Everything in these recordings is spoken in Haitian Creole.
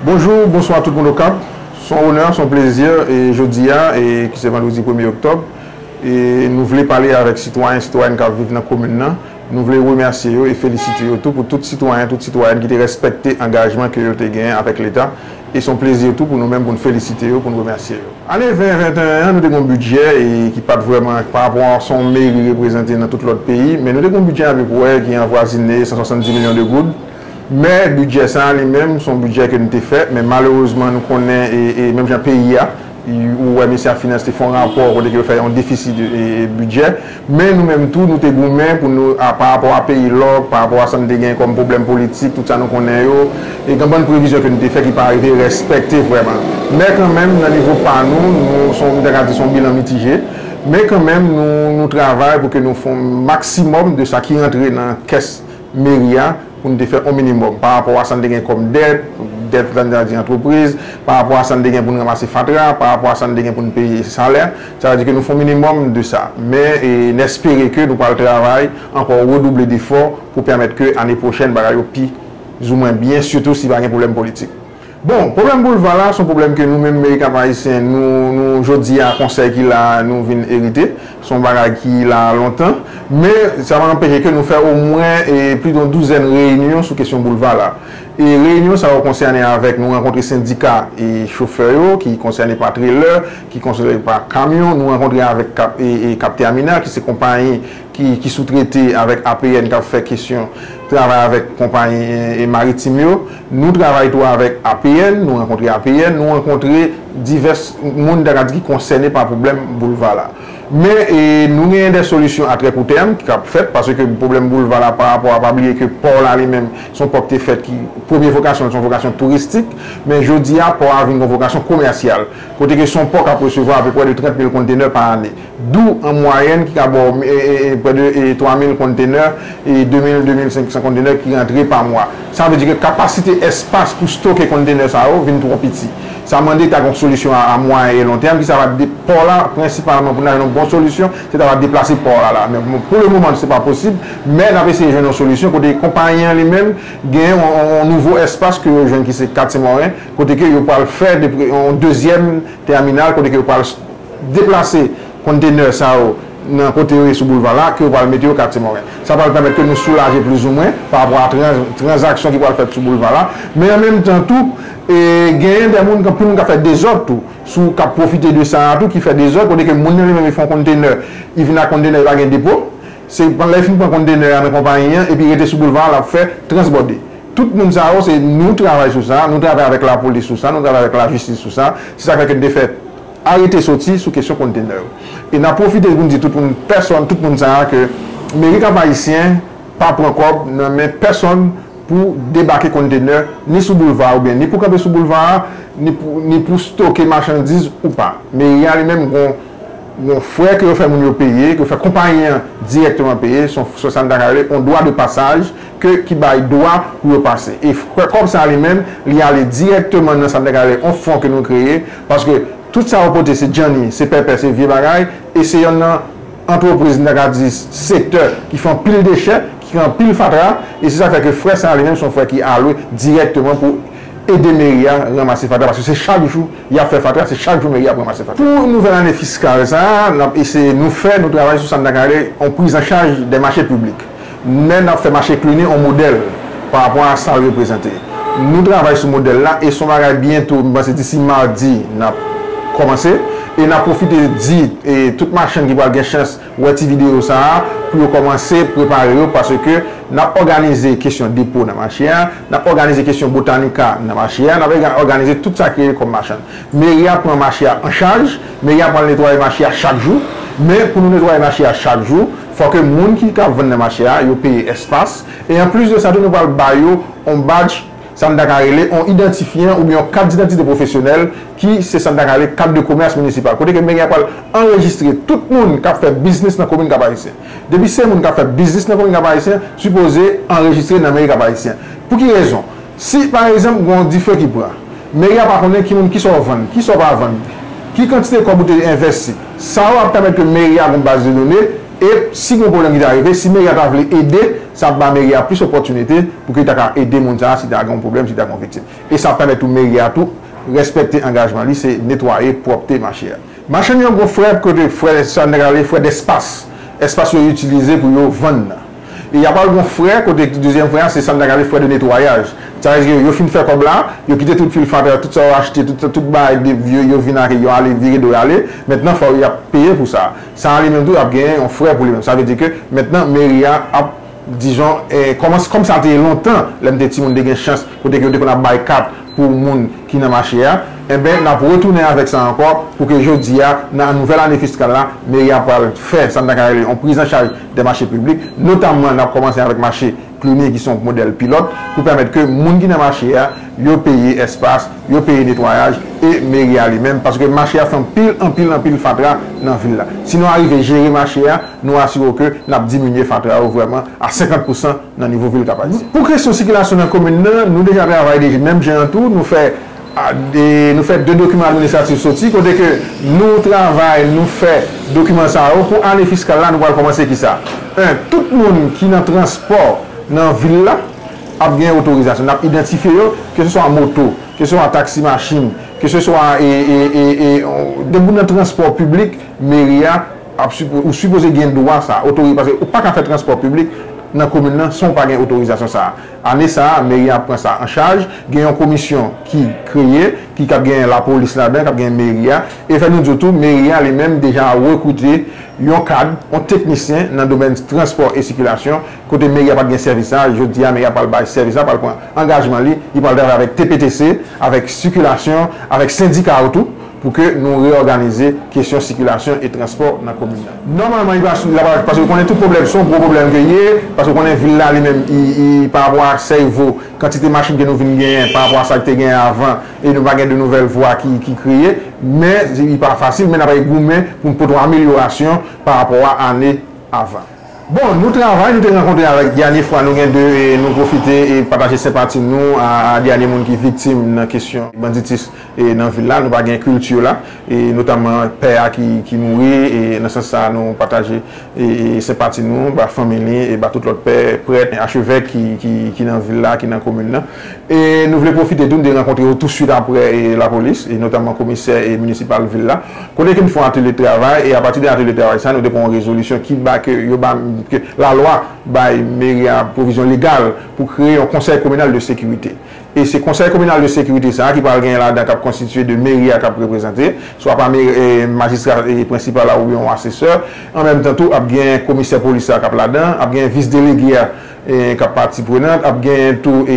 Bonjou, bonswa tout moun Okap. S on onè, s on plezi e jodi a e ki se vandredi premye oktòb e nou vle pale avèk sitwayen, sitwayèn k ap viv nan komin nan. Nou vle remèsye yo e felisite yo tou pou tout sitwayen, tout sitwayèn ki te rèspèkte angajman ke yo te genyen avèk Leta e son plezi tou pou nou menm pou n felisite yo, pou n remèsye yo. Ane 2021 an, nou te gen yon bidjè e ki pa t vrèman pa rapò a sa yon meri reprezante nan tout lòt peyi, men nou te gen yon bidjè apeprè ki anvwazine 170 milyon de goud, men bidjè sa a li menm son bidjè ke n te fè, men malerezman nou konnen e menm jan peyi a, ou wè Mesye a Finans te fè yon rapò kote ke yo fè yon defisi de bidjè. Men nou menm tou nou te goumen pou nou a pa rapò a peyi lòk, pa rapò a sa nou te gen kòm pwoblèm politik, tout sa nou konnen yo. E gen bann previzyon ke nou te fè ki pa arive rèspèkte vrèman. Men kan menm nan nivo pa nou, nou son, m ta ka di son bilan mitije. Men kan menm nou, nou travay pou ke nou fon maksimòm de sa ki rantre nan kès. meri a pou n te fè yon minimòm pa rapò a sa n te gen kòm dèt, dèt sa n ta di antrepriz, pa rapò a sa n te gen pou n ranmase fatra, pa rapò a sa n te gen pou n peye salè. Sa vle di ke nou fè yon minimòm de sa. Men, n espere ke nou pral travay ankò redouble defò pou pèmèt ke ane pwochèn bagay yo pi zou mwen byen sitou si pa gen pwoblèm politik. Bon, pwoblèm boulva la son pwoblèm ke nou menm Meriken ak Ayisyen nou, nou jodi a konsèy ki la a nou vin erite. Son bagay ki la a lontan. Men, sa pa anpeche ke nou fè omwen plidon douzèn reyinyon sou kesyon boulva la. E reyinyon sa yo konsène avèk nou rankontre sendika chofè yo, ki konsène pa trelè, ki konsène pa kamyon, nou rankontre avèk Capterminal ki se konpayi ki soutrete avèk APN k ap fè kesyon travay avèk konpayi maritim yo. Nou travay tou avèk APN, nou rankontre APN, nou rankontre divès moun ta ka di ki konsène pa pwoblèm boulva la. Men nou genyen de solisyon a trè kou tèm k ap fèt paske pwoblèm boulva la pa rapò a pa bliye ke pò la li menm se yon pò ki te fèt ki premye vokasyon l se yon vokasyon touristik men jodi a pò a vin gen yon vokasyon komèsyal kote ke se yon pò k ap resevwa apeprè de 30 mil kontenè pa ane. dou an mwayèn ki ka ba w prè de 3000 konntenè, 2000, 2500 konntenè ki rantre pa mwa. Sa vle di ke kapasite espas pou stoke konntenè sa yo vin twò piti. Sa mande ta gen yon solisyon a mwayen e lon tèm ki sa va pò la prensipalman pou n ta jwenn yon bon solisyon se ta va deplase pò a la. Men pou le moman se pa posib men n ap eseye jwenn yon solisyon kote konpayi an li menm gen yon nouvo espas ke yo jwenn ki se katye mòren kote ke yo pral fè yon dezyèm tèminal kote ke yo pral deplase konntenè sa yo nan kote yo ye sou boulva la ke yo pral mete yo katye Moren. Sa pral pèmèt ke nou soulaje plizoumwen pa rapò a tranzaksyon ki pral fèt sou boulva la. Men an menm tan tou, genyen dè moun anpil moun k ap fè dezòd tou, sou k ap pwofite de sa a tou, ki fè dezòd kote ke moun nan li menm li fè yon konntenè, li vin ak konntenè li pa gen depo, se lè li fin pran konntenè a nan konpayi an epi rete sou boulva a l ap fè transbòde. Tout moun sa yo se nou travay sou sa, nou travay avèk lapolis sou sa, nou travay avèk lajistis sou sa, se sa k fè ke n te fè. Arete soti sou kesyon kontenè yo. E nap pwofite pou n di tout moun pèsòn tout moun sa a ke Meri Kap Ayisyen pa pran kòb nan men pèsòn pou debake kontenè ni sou boulva oubyen ni pou kanpe sou boulva a ni pou ni pou stoke machandiz ou pa. Meri a li menm gon gon frè ke yo fè moun yo peye, ke yo fè konpayi an dirèkteman peye, son son sa n ta ka rele on dwa de pasaj. ke ki bay dwa pou yo pase. E fre kòb sa li menm, li ale dirèkteman nan sa nou ta ka rele yon fon ke nou kreye, paske tout sa yo pote se djanni, se pèpè, se vye bagay, e se yonn nan antrepriz nou ta ka di sektè ki fè anpil dechè, ki kreye anpil fatra, e se sa k fè ke fre sa li menm se yon fre ki alwe dirèkteman pou ede meri a ranmase fatra, paske se chak jou y ap fè fatra, se chak jou meri a ap ranmase fatra. Pou nouvèl ane fiskal sa a, n ap eseye nou fè, nou travay sou sa nou ta ka rele yon prizanchaj dè mache piblik. Nen ap fè mache klini on modèl pa rapò a sa l reprezante. Nou travay sou modèl la e son bagay byento, m panse disi madi n ap kòmanse e n ap pwofite di tout machann ki pral gen chans wè ti videyo sa a pou yo kòmanse prepare yo paske n ap òganize kesyon depo nan mache a, n ap òganize kesyon botanika nan mache a, n ap òganize tout sa ki rele kòm machann. Meri a pran mache a an chaj, meri a pral netwaye mache a chak jou men pou nou netwaye mache a chak jou, Fò ke moun ki ka vann nan mache a yo peye espas, e an plis de sa tou nou pral ba yo on badj, sa n ta ka rele on idantifyan oubyen on kat didantite pwofesyonèl ki se sa n ta ka rele kat de komès minisipal kote ke meri a pral anrejistre tout moun k ap fè biznis nan komin Kap-Ayisyen. Depi se moun k ap fè biznis nan komin Kap-Ayisyen sipoze anrejistre nan meri Kap-Ayisyen. Pou ki rezon? Si, pa egzanp, gen yon dife ki pran, mèri a pa konnen ki moun, ki sa w vann, ki sa w pa vann, ki kantite kòb ou te envèsti. Sa yo ap pèmèt ke mèri a gen yon baz de done e, si gen yon pwoblèm ki ta rive, si mèri a ta vle ede, sa ap ba mèri a plis opòtinite pou ke li ta ka ede moun sa a si ta gen yon pwoblèm, si ta gen yon viktim. E sa ap pèmèt tou mèri a tou rèspèkte angajman li, se netwaye, pwòpte mache a. Machann yo gen yon frè kote, frè sa nèg la rele frè dèspas, espas yo itilize pou yo vann nan. E ya pral gon frè kote dezyèm frè a se sa n ta rele frè de netwayaj. Sa vle di yo fin fè kòb la, yo kite tout fil fatra, tout sa yo achte, tout bagay de vye yo vin ak yo ale vire do yo ale. Mentnan fò y ap peye pou sa. Sa a li menm tou ap gen yon frè pou li menm. Sa vle di ke mentnan meri a ap dijon kòman kòm sa te ye lontan lè m te timoun te gen chans kote ke yo te konn ap bay kat pou moun ki nan mache a enben n ap retounen avèk sa ankò pou ke jodi a nan nouvèl ane fiskal la meri a pral fè sa n ta ka rele yon prizanchaj dè mache piblik, notamman nap kòmanse avèk mache Cluny ki se yon modèl pilòt pou pèmèt ke moun ki nan mache a yo peye espas, yo peye netwayaj e meri a li menm paske mache a fè anpil anpil anpil fatra nan vil la. Si nou arive jere mache a, nou asire w ke nap diminye fatra yo vrèman a 50 pousan nan nivo vil Kap Ayisyen. Pou kesyon sikilasyon nan komin nan, nou deja travay deja menm jan an tou, nou fè. Nou fè 2 dokiman administratif soti kote ke nou travay, nou fè dokiman sa yo pou ane fiskal la nou pral kòmanse ki sa? 1, Tout moun ki nan transpò nan vil la ap gen otorizasyon. N ap idantifye yo, ke se swa moto, ke se swa taksi machin, ke se swa depi ou nan transpò piblik meri a ap sipoze, ou sipoze gen dwa sa a, otori, paske ou pa ka fè transpò piblik nan komin nan san ou pa gen otorizasyon sa a. Ane sa a, meri an ap pran sa an chaj. Gen yon komisyon ki kreye, ki kab gen lapolis ladan, kab gen meri a. E fè nou di w tou, meri a li menm deja rekrite yon kad, yon teknisyen nan domèn transpò e sikilasyon. Kote meri a pa t gen sèvis sa a, jodi a meri a pral bay sèvis la, pral pran angajman li. Li pral travay avèk TPTC, avèk sikilasyon, avèk sendika yo tou pou ke nou reyòganize kesyon sikilasyon e transpò nan komin. Nòmalman li pa sou, paske yo konnen tout pwoblèm, se yon gwo pwoblèm ke li ye, paske yo konnen vil la li menm li parapò a Sèivo, kantite machin ke nou vin genyen parapò a sa ki te genyen avan e nou pa gen de nouvèl vwa ki kreye, men li pa fasil men n ap goumen pou n pote yon amelyorasyon parapò a ane avan. Bon, nou travay, nou te rankontre avèk dènye fwa nou gen de nou pwofite pataje senpati nou a dènye moun ki viktim nan kesyon banditis. E nan vil la nou pa gen culture la e notamman pè a ki mouri e nan sans sa nou pataje e senpati nou ba fanmi li e ba tout lòt pè, prèt, achevèk ki nan vil la, ki nan komin nan. E nou vle pwofite tou nou te rankontre yo tou swit aprè e lapolis e notamman komisè e munisipal vil la kote ke nou fon atelye de travay e a pati de atelye de travay sa nou te pran yon rezolisyon ki ba ke yo ba ke la lwa bay meri a pwovizyon legal pou kreye yon konsèy kominal de sekirite. E se Konsèy Kominal de Sekirite sa a ki pral genyen ladan k ap konstitiye de Meri a k ap reprezante, swa pa Majistra Prensipal la oubyen yon Asesè. An menm tan tou, ap genyen Komisè Polis la k ap ladan, ap genyen Vis Delege a k ap pati prenant, ap genyen tou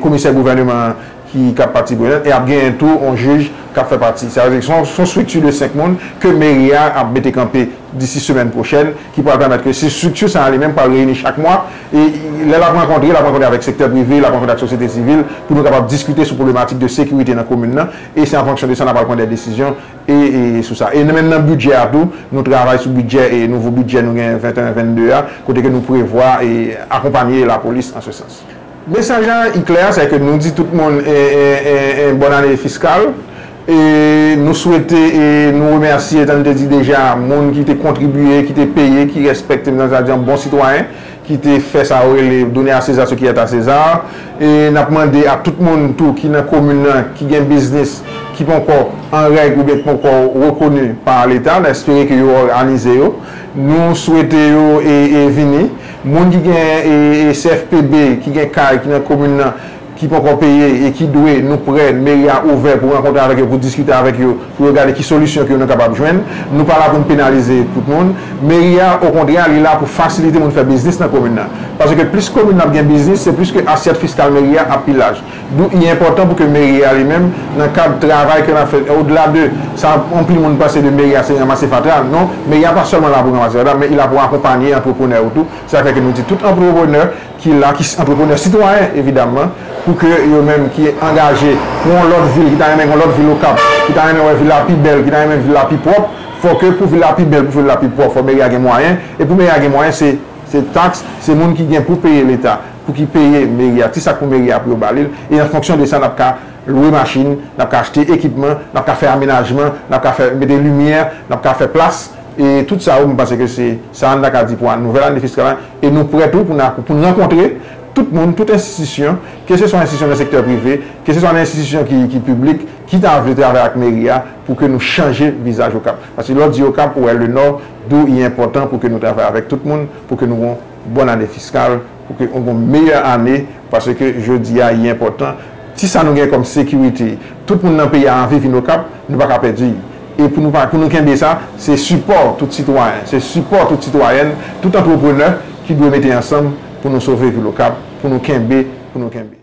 Komisè Gouvèneman an ki k ap pati prenant e ap genyen tou yon Jij k ap fè pati. Sa vle di se yon strikti de 5 moun ke Meri a ap mete kanpe disi semèn pwochèn. ki pral pèmèt ke si strikti sa a li menm pral reyini chak mwa, e lè l ap rankontre, l ap rankontre avèk sektè prive, l ap rankontre ak sosyete sivil, pou nou kapab diskite sou pwoblematik de sekirite nan komin nan, e se an fonksyon de sa n ap pral pran dè desizyon e sou sa. E nan menm nan bidjè a tou, nou travay sou bidjè e nouvo bidjè nou gen 21, 22 a, kote ke nou prevwa e akonpanye lapolis an se sans. Mesaj la i klè a sèke nou di tout moun en bòn ane fiskal e nou swete e nou remèsye jan nou te di deja moun ki te kontribye ki te peye ki rèspèkte m ta di an bon sitwayen ki te fè sa yo rele donner à César ce qui est à César e n ap mande a tout moun tou ki nan komin nan ki gen biznis ki ponkò an règ oubyen ki ponkò rekoni pa leta n espere ke yo òganize yo nou swete yo e vini. Moun ki gen CFPB, ki gen kay, ki nan komin nan, ki ponkò peye e ki dwe, nou prè, meri a ouvè pou rankontre avèk yo, pou diskite avèk yo, pou yo gade ki solisyon ke nou kapab jwenn. Nou pa la pou nou penalize tout moun. Meri a, okontrè, li la pou fasilite moun fè biznis nan komin nan. Paske plis komin nan ap gen biznis, se plis ke asyèt fiskal meri a ap pi laj. Dou i enpòtan pou ke meri a li menm nan kad travay ke lap fè o dela de sa anpil moun panse de meri a se ranmase fatra non meri a pa sèlman la pou ranmase fatra men i la pou akonpanye antreprenè yo tou se sak fè ke nou di tout antreprenè ki la ki antreprenè sitwayen evidamman pou ke yo menm ki angaje pou yon lòt vil ki ta renmen gen yon lòt vil okap ki ta renmen wè vil la pi bèl ki ta renmen vil la pi pwòp fò ke pou vil la pi bèl pou vil la pi pwòp fò meri a gen mwayen e pou meri a gen mwayen se se taks se moun ki gen pou peye leta pou ki peye meri a, ti sak pou meri a pou yo ba li l, e an fonksyon de sa n ap ka lwe machin, n ap ka achte ekipman, n ap ka fè amenajman, n ap ka fè mete limyè, n ap ka fè plas, e tout sa yo m panse ke se sa an n ta ka di pou a nouvèl ane fiskal la, e nou prè tou pou n a pou n rankontre tout moun, tout enstitisyon, ke se swa enstitisyon nan sektè prive, ke se swa nan enstitisyon ki ki piblik, ki ta vle travay ak meri a pou ke nou chanje vizaj Okap, paske lè w di Okap ou wè Lenò, dou i enpòtan pou ke nou travay avèk tout moun pou ke nou Bòn ane fiskal pou ke ou gon meyè ane pase ke jodi a ye enpòtan ti sa nou gen kòm sekirite tout moun nan peyi a anvi vin okap nou pa ka pèdi e pou nou pa pou nou kenbe sa se sipò tout sitwayen se sipò tout sitwayèn tout antreprenè ki dwe mete ansanm pou nou sove vil okap pou nou kenbe pou nou kenbe.